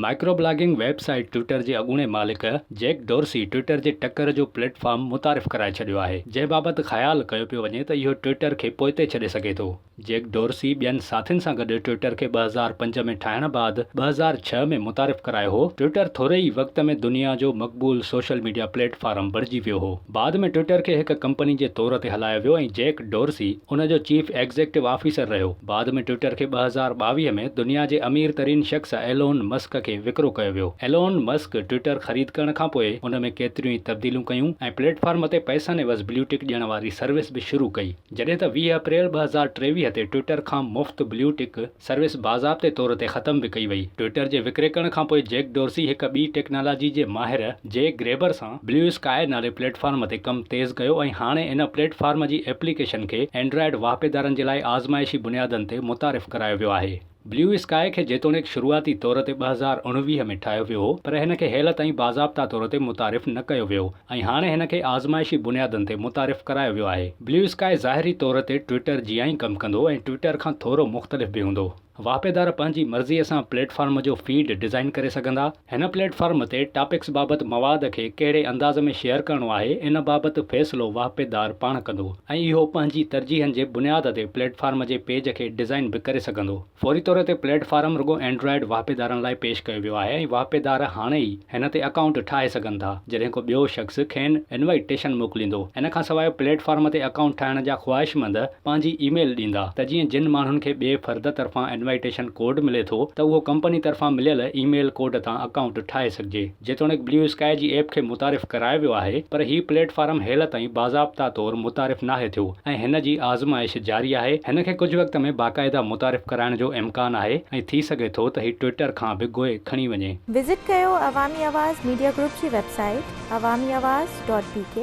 Micro blogging website Twitter جي اڳوڻي مالڪ جيڪ ڊورسي ٽوئٽر جي ٽڪر جو پليٽ فارم متعارف ڪرائي ڇڏيو آهي، جنهن بابت خيال ڪيو پيو وڃي ته اهو ٽوئٽر کي پوئتي ڇڏي سگهي ٿو. جيڪ ڊورسي ٻين ساٿين سان گڏ ٽوئٽر کي ٻه هزار پنج ۾ ٺاهڻ بعد ٻه هزار ڇهه ۾ متعارف ڪرايو هو. ٽوئٽر ٿوري ئي وقت ۾ دنيا جو مقبول سوشل ميڊيا پليٽ فارم بڻجي ويو هو. بعد ۾ ٽوئيٽر کي هڪ ڪمپني جي طور تي هلايو ويو ۽ جيڪ ڊورسي ان جو چيف ايگزيڪٽو آفيسر رهيو. بعد ۾ ٽوئيٽر کي ٻه هزار ٻاويهه ۾ دنيا جي امير ترين شخص ايلون مسڪ کي وڪرو ڪيو ويو. ايلون مسڪ ٽوئيٽر خريد ڪرڻ کان پوء ان ۾ ڪيتريون ئي تبديليون ڪيون ۽ پليٽ فارم تي پئسن عيوض بليو ٽڪ ڏيڻ واري سروس به شروع ڪئي. جڏهن ته ويهه اپريل ٻه هزار ٽيويهه تي ٽوئيٽر کان مفت بليو ٽڪ، سروس باضابطي طور تي ختم به ڪئي وئي. ٽوئيٽر جي وڪريڪڻ کان پوء جيڪ ڊورسي هڪ ٻي ٽيڪنالاجي جي ماهر جي گريبر سان بليو اسڪائي نالي پليٽ فارم تي ڪم تيز ڪيو ۽ هاڻي ان پليٽ فارم جي ايپليڪيشن کي اينڊرائيڊ واهپيدارن جي لاء آزمائشي بنيادن تي متعارف ڪرايو ويو آهي. بليو اسڪائي کي جيتوڻيڪ شروعاتي طور تي ٻه هزار اڻويهه ۾ ٺاهيو ويو هو پر هن کي هيل تائين باضابطا طور تي متعارف نه ڪيو ويو. ۽ هاڻي هن کي آزمائشي بنيادن تي متعارف ڪرايو ويو آهي. بليو اسڪائي ظاهري طور تي ٽوئيٽر جيان ئي ڪم ڪندو ۽ ٽوئيٽر کان ٿورو مختلف به هوندو. واهپيدار پنهنجي مرضيء سان پليٽ فارم جو فيڊ ڊزائين ڪري سگهندا. هن پليٽ فارم تي ٽاپڪس بابت مواد کي ڪهڙي انداز ۾ شيئر ڪرڻو آهي ان بابت فيصلو واهپيدار پاڻ ڪندو ۽ اهو پنهنجي ترجيحن جي بنياد تي پليٽ فارم جي پيج کي ڊزائين به ڪري سگهندو. فوري طور تي پليٽ فارم رڳو اينڊرائيڊ واهپيدارن لاء پيش ڪيو ويو آهي ۽ واهپيدار هاڻي ئي هن تي اڪائونٽ ٺاهي سگهن ٿا جڏهن ڪو ٻيو شخص کين انوائي ٽيشن موڪليندو ان کان سواء پليٽ فارم تي اڪائونٽ ٺاهڻ جا خواهشمند پنهنجي اي ميل ڏيندا ته جيئن جن ماڻهن کي ٻئي فرد طرفان انوائي ٽيشن ڪوڊ ملي ٿو ته اهو ڪمپني طرفان مليل اي ميل ڪوڊ تان اڪائونٽ ٺاهي سگهجي. جيتوڻيڪ بليو اسڪائي جي ايپ کي متعارف ڪرايو ويو آهي پر هي پليٽ فارم هيل تائين باضابطا طور متعارف ناهي ٿيو ۽ هن جي آزمائش جاري آهي هن کي ڪجهه وقت ۾ باقاعده متعارف ڪرائڻ جو امڪان آهي ۽ ٿي سگهي ٿو ته هي ٽوئيٽر کان به گوء کڻي وڃي. وزٽ ڪيو عوامي آواز ميڊيا گروپ جي website Awami Awaz dot بي ڪي.